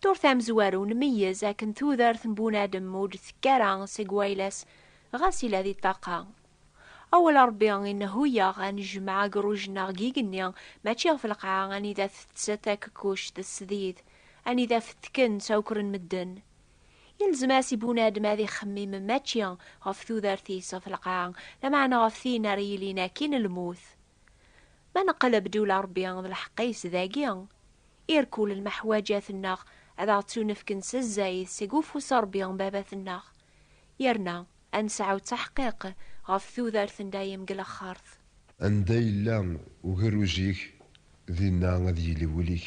Turt amezwaru nmeyyez akken tudert n bunadem ur d-tekk ara seg wayla-s ɣas yella di ṭṭaqa. Awal Ṛebbi i nheyyaɣ ad nejmeɛ agruj-nneɣ g igenni mačči ɣef lqaɛa anida teţţ takekuct d tesdid, anida fettken ţawekren medden. Yelzem-as i bunadem ad ixemmim mačči ɣef tudert-is ɣef lqaɛa, lameɛna ɣef tin ara yilin akkin lmut. Ma neqleb-d ula Ṛebbi d lḥeqq-is dagi, irkul lmeḥwaǧat-nneɣ ad aɣ-ttunefken s zzayed seg ufus n Ṛebbi Baba-tenneɣ, yerna ad nesɛu ttaḥqiq ɣef tudert n dayem deg lexxert. Anda yella ugerruj-ik, dinna ad yili wul-ik.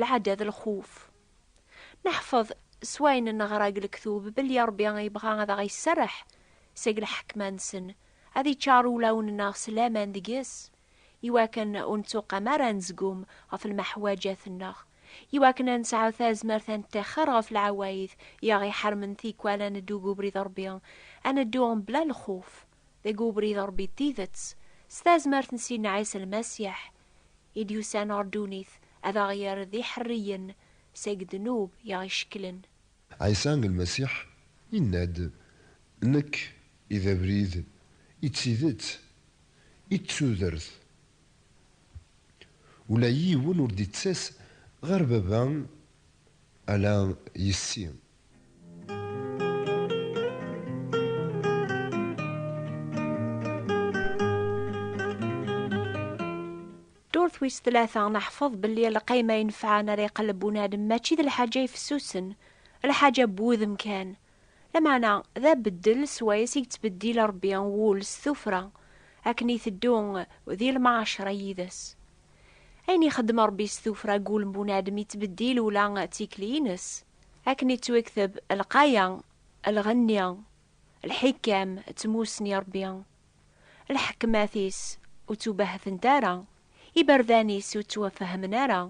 lɛada d lxuf. Neḥfeḍ s wayen neɣra deg lektub belli Ṛebbi yebɣa ad aɣ-iserreḥ seg lḥekma-nsen, ad iččar ulawen-nneɣ s laman deg-s, iwakken ur nettuqam ara ad nezgum ɣef lmeḥwaǧat-nneɣ, iwakken ad nesɛu tazmert ad neṭṭixxer ɣef lɛawayed i aɣ-iḥermen tikwal ad neddu deg ubrid n Ṛebbi, ad neddu mebla lxuf. Deg ubrid n Ṛebbi n tidet, s tazmert n Sidna Ɛisa Lmasiḥ, i d-yusan ɣer ddunit ad aɣ-yerr d iḥerriyen seg ddnub i aɣ-icekklen. Ɛisa Lmasiḥ yenna-d, Nekk i d abrid, i d tidet, i d tudert. Ula yiwen ur d-ittas ɣer Baba ala yess-i. wis tlata neḥfeḍ belli lqayma yenfɛen ara iqelleb unadem mačči d lḥaǧa ifessusen lḥaǧa n wudem kan lameɛna d abeddel swayes i yettbeddil rebbi wul s tufra akken iteddu di lmaɛacra yid-s ayen ixeddem rebbi s tufra n wul n bunadem yettbeddil ula d tikli-ines Akken ittwekteb, lqaya, lɣenni, lḥikam d tmussni n Ṛebbi, lḥekmat-is ur ttubahtent ara, iberdan-is ur ttwafehmen ara,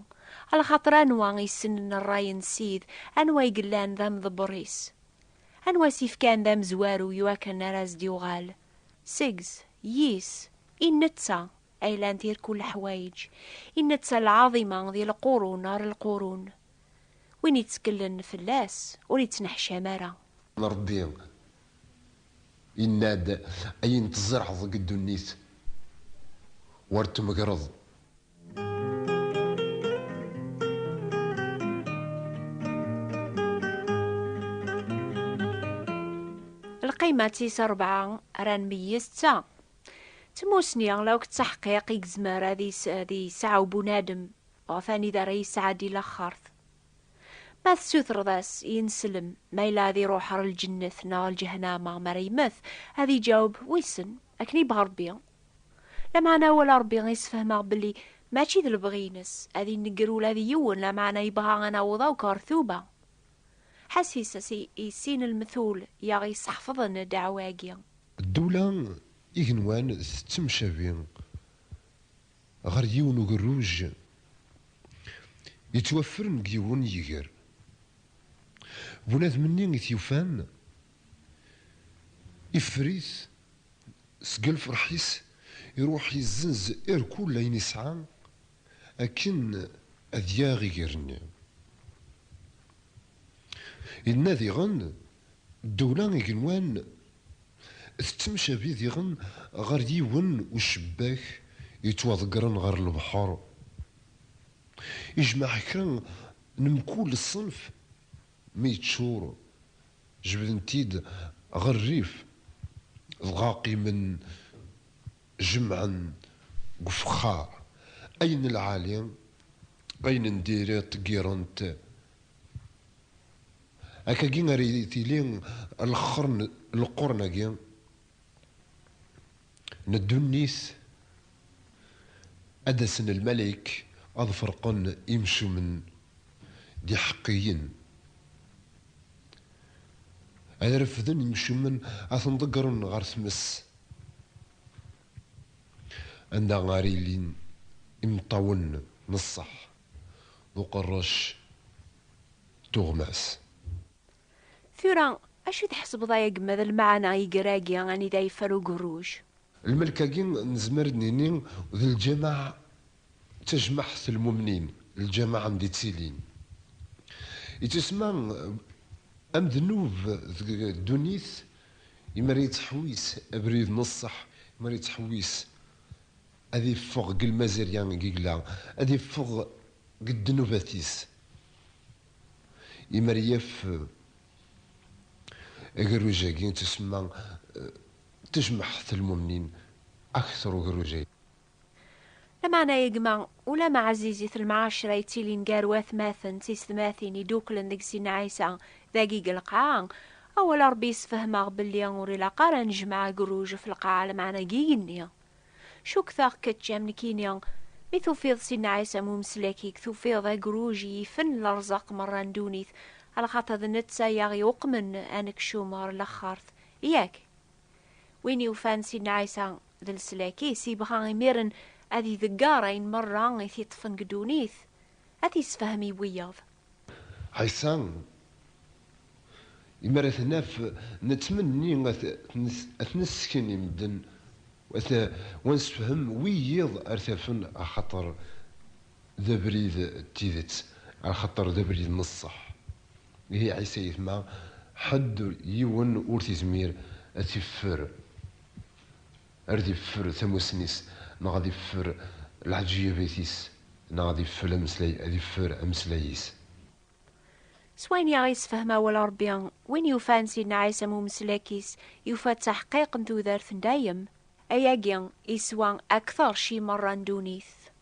lxaṭer anwa i yessnen ṛṛay n Ssid, anwa i yellan d amḍebber-is, anwa i s-yefkan d amezwaru i wakken ara as-d-yuɣal seg-s, yis, i netta ay llant irkul leḥwayeǧ, i netta lɛaḍima di lqurun ɣer lqurun, Win itteklen fell-as ur ittneḥcam ara. Ṛebbi yenna-d, Ayen tzerɛeḍ deg ddunit, ur t-tmegreḍ. Lqima tis rebɛa ara nmeyyez d ta, Tmussni, akk d taḥqiq i yezmer ad yesɛu bunadem ɣef anida ara yesɛeddi laxert. Ma tessutreḍ-as i ineslem ma yella ad iruḥ ɣer lǧennet neɣ lǧehnama mi ara yemmet, ad iǧaweb, Wissen, akken yebɣa Rebbi. Lameɛna awal n Rebbi i sfehmeɣ belli mačči d lebɣi-ines, ad inegger ula d yiwen, lameɛna yebɣa ad naweḍ akk ɣer tuba. Ḥasis-as i sin lmetul i aɣ-yesḥefḍen ddeɛwa-agi. Ddewla igenwan tettemcabi. ɣer yiwen ugerruj yettwaffren deg yiwen yiger. Bunadem-nni i t-yufan iffer-it seg lferḥ-is, iruḥ yezzenz irkul ayen yesɛa akken ad yaɣ iger-nni. Yenna diɣen Ddewla igenwan tettemcabi diɣen ɣer yiwen ucebbak yettwaḍeggren ɣer lebḥer, ijmeɛ kra n mkul ṣṣenf, mi yeččur jebden-t-id ɣer rrif, dɣa qqimen jemɛen deg ufexxar, ayen n lɛali, ayen n diri ṭeggiren-t Akagi ara tili leqrun-agi n ddunit, ad d-asen lmalayek ad ferqen imcumen d iḥeqqiyen, ad refden imcumen ad ten-ḍeggren ɣer tmes, anda ara ilin imeṭṭawen n ṣṣeḥ. d uqerrec n tuɣmas. Tura, acu i tḥesbeḍ ay agemmad n lemɛana n yiger-agi anida yeffer ugerruj? Lmelk-agi nezmer ad d-nini d lǧameɛ, d tajmaɛt n lmumnin, lǧameɛ anda i ttilin. Yettusemma amednub deg ddunit imi ara yettḥewwis abrid n ṣṣeḥ, imi ara yettḥewwis Ad iffeɣ deg lmazirya n yegla, ad iffeɣ deg ddnubat-is. Imer yaf agerruj-agi, tusemma tejmeḥt lmumnin akter ugerruj-agi. Lameɛna a gma, ulamma ɛzizit lemɛacra yettilin gar watmaten d tiysetmatin iduklen deg Sidna Ɛisa dagi deg lqaɛa, awal n Rebbi yessefhem-aɣ belli ur ilaq ara ad nejmeɛ agerruj ɣef lqaɛa lameɛna deg yigenni. Cukkteɣ kečč am nekkini, mi tufiḍ si nnɛas am umeslak-ik, tufiḍ agruj i yifen lerẓaq merra n ddunit, lxaṭer d netta i aɣ-iuqmen anekcum ɣer laxert, yak? Win yufan si nnɛas-a d leslak-is, yebɣa imiren ad idegger ayen merra i t-iṭṭfen deg ddunit, ad t-isefhem i wiyaḍ. Ɛisa, imi ara t-naf, nettmenni ad t-nessken i medden, u ad nessefhem wiyiḍ ara t-afen, axaṭer d abrid n tidet, axaṭer d abrid n ṣṣeḥ. Ihi Ɛisa yetma ḥedd, yiwen ur t-izmir ad t-iffer. Ar ad iffer tamussni-s, neɣ ad iffer leɛǧiyabat-is, neɣ ad iffer ameslay, ad iffer ameslay-is. S wayen i aɣ-yessefhem awal Ṛebbi, win yufan Sidna Ɛisa am umeslak-is, yufa ttaḥqiq n tudert n dayem. Ayagi, iswa akteṛ cci meṛṛa n ddunit.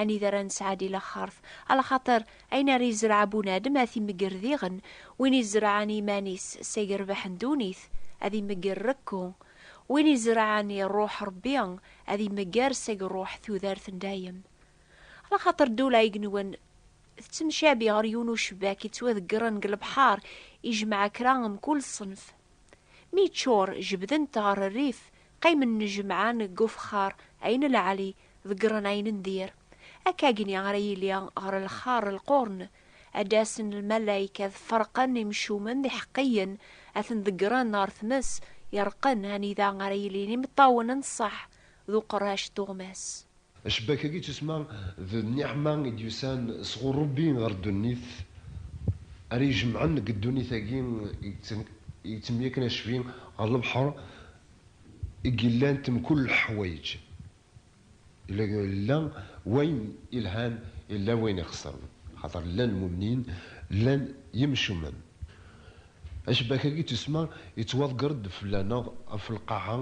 Anida ara nesɛa di laxert? Alaxaṭer ayen ara izreɛ bunadem ad t-imegger diɣen, win izerɛen iman-is seg rrbeḥ n ddunit ad imegger rekku, win izerɛen i Rruḥ Ṛebbi ad imegger seg ṛṛuḥ tudert n dayem. Alaxaṭer ddula i inwen tettemcabi ɣer yiwen ucebbak yettwadeggren deg lebḥer ijemmeɛ kra n mkul ṣṣenf. Mi yeččur, jebden-t ɣer rrif, qqimen jemɛen deg ufexxar ayen lɛali, Ḍeggren ayen n dir. Akkagi ara yili ɣer lxar lqurn. Ad d-asen lmalayek ad ferqen imcumen d iḥeqqiyen, ad ten-ḍeggren ɣer tmes ireqqen anida ara yilin imeṭṭawen n ṣṣeḥ d uqerrac d tuɣmas. Acebbak-agi ttusemma d nniɛma i d-yusan sɣur Ṛebbi ɣer ddunit, ara ijemɛen deg ddunit-agi i yettemyakken acbi ɣer lebḥer i yellant mkul leḥwayeǧ, yella wayen yelhan, yella wayen ixesren, axaṭer llan lmumnin, llan yimcumen. Acebbak-agi n tussma yettwaḍger-d fell-aneɣ ɣef lqaɛa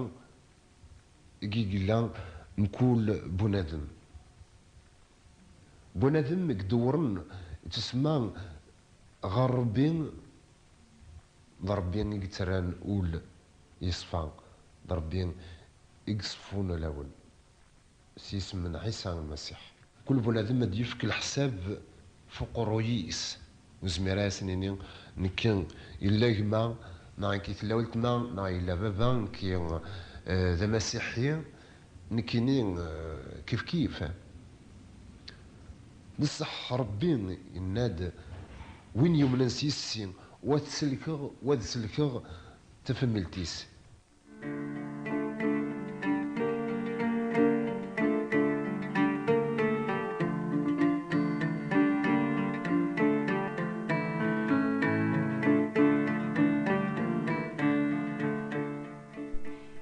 i yella mkul bunadem. Bunadem i idewwren tussma ɣer Ṛebbi D Ṛebbi i yettarran ul yeṣfa, d Ṛebbi i iṣeffun alawen, s yisem n Ɛisa Lmasiḥ. Kul bunadem ad d-yefk leḥsab f uqerruy-is. Nezmir a asen-nini, Nekki, yella gma, neɣ nekki tella weltma, neɣ yella baba, nekki d amasiḥi, Nekkini kifkif. D sseḥ Ṛebbi yenna-d, Win yumnen s yis-si, wa ad t-sellkeɣ, wa ad sellkeɣ tafemmelt-is.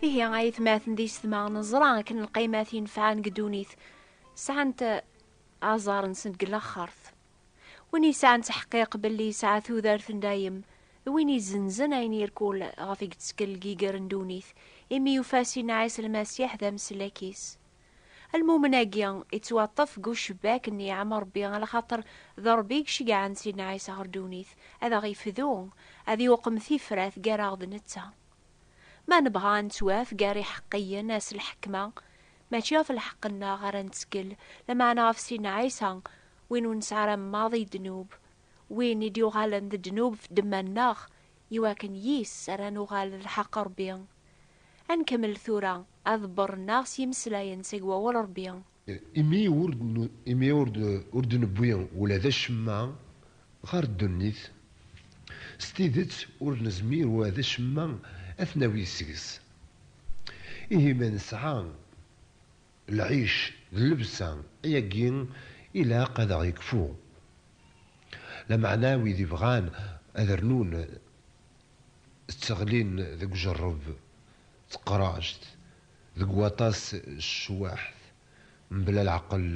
Ihi ay tmaten di setma neẓra akken lqaymat yenfɛen deg ddunit sɛant aẓar-nsen deg laxert. Win yesɛan ttḥeqqiq belli yesɛa tudert n dayem d win izenzen ayen irkul ɣef i yettkel deg yiger n ddunit imi yufa Sina Ɛisa Lmasiḥ d ameslak-is. Almumen-agi ittwaṭṭef deg ucebbak n niɛam Rebbi alaxaṭer d Rebbi i iceggɛen Sina Ɛisa ɣer ddunit ad aɣ-ifdu, ad yuqem tifrat gar-aɣ d netta. lḥeqq. Ma nebɣa ad nettwaf gar iḥeqqiyen s lḥekma, mačči ɣef lḥeqq-nneɣ ara nettkel, lameɛna ɣef Sidna Ɛisa, win ur nesɛi ara maḍi i ddnub, win i d-yuɣalen d ddnub f ddemma-nneɣ, iwakken yis-s ara nuɣal d lḥeqq Rebbi. Ad nkemmel tura aḍebber-nneɣ s yimeslayen seg Wawal Rebbi. Imi ur d-newwi ula d acemma ɣer ddunit, s tidet ur nezmir ula d acemma ad t-nawi seg-s. Ihi ma nesɛa lɛic d llebsa, ayagi ilaq ad aɣ-yekfu. Lameɛna wid ibɣan ad rnun tteɣlin deg ujerreb d teqract, Deg waṭas cwaḥt mebla leɛqel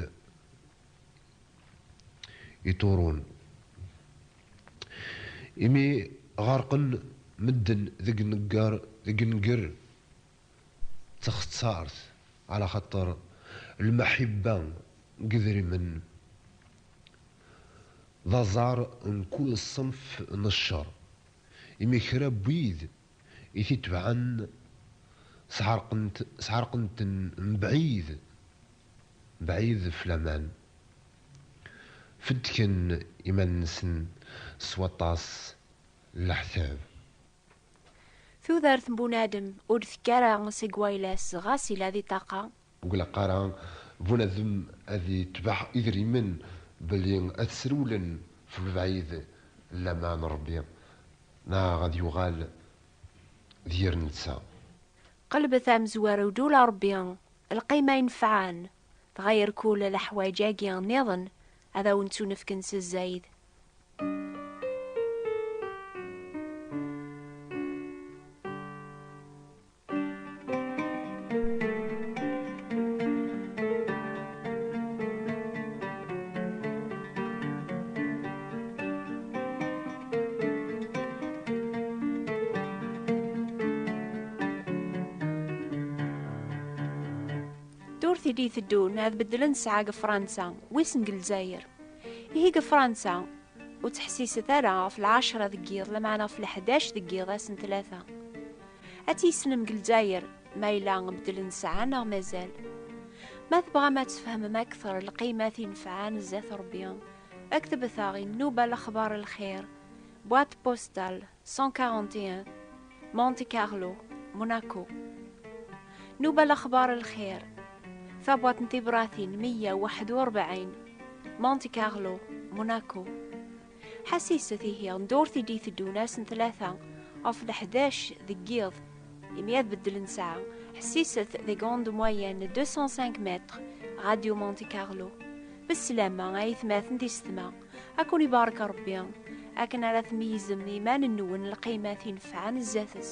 iṭurun. Imi ɣerqen medden deg negger deg nnger d taxettart ɛla xaṭer lmeḥibba n yedrimen d aẓar n kul ṣṣenf n ccer. Imi kra n wid I t-itebɛen sɛerqent-ten mebɛid mebɛid ɣef laman. Feddken iman-nsen s waṭas n leḥtab. Tudert n bunadem ur d-tekki ara seg wayla-s ɣas yella di ṭṭaqa Ur ilaq ara bunadem ad itbeɛ idrimen belli ad srewlen f lebɛid llama n Rebbi neɣ ad yuɣal d yir netta. Qelbet amezwaru d ul Rebbi, lqima inefɛen, dɣa irkul leḥwaǧ-agi nniḍen ad awen-ttunefken s zzayed. tili iteddun ad beddlen ssaɛa deg Fransa, wissen deg Lezzayer. Ihi deg Fransa, ur ttḥessiset ara ɣef lɛecra deg yiḍ, lameɛna ɣef leḥdac deg yiḍ ass n tlata. Ad tt-yessnem deg Lezzayer, ma yella beddel nesɛa neɣ mazal. Ma tebɣam ad tfehmem akteṛ lqimat inefɛan zdat Ṛebbi, ktebet-aɣ i nnuba Lexbaṛ Lxir, boîte postale 141, Monte Carlo, Monaco. Nnuba Lexbaṛ Lxir, tabwaṭ n tibṛatin meyya u waḥed u ṛebɛin, Monte Carlo, Monaco. Ḥasiset ihi ddurt i d-iteddun ass n tlata ɣef leḥdac deg yiḍ imi ad beddlen ssaɛa. Ḥessiset d grande moyenne 205 mètres Radio Monte Carlo. D sslamma a itmaten tisetma, a ken-ibarek Rebbi akken ara tmeyyzem iman-nwen lqimat inefɛen zdat-s.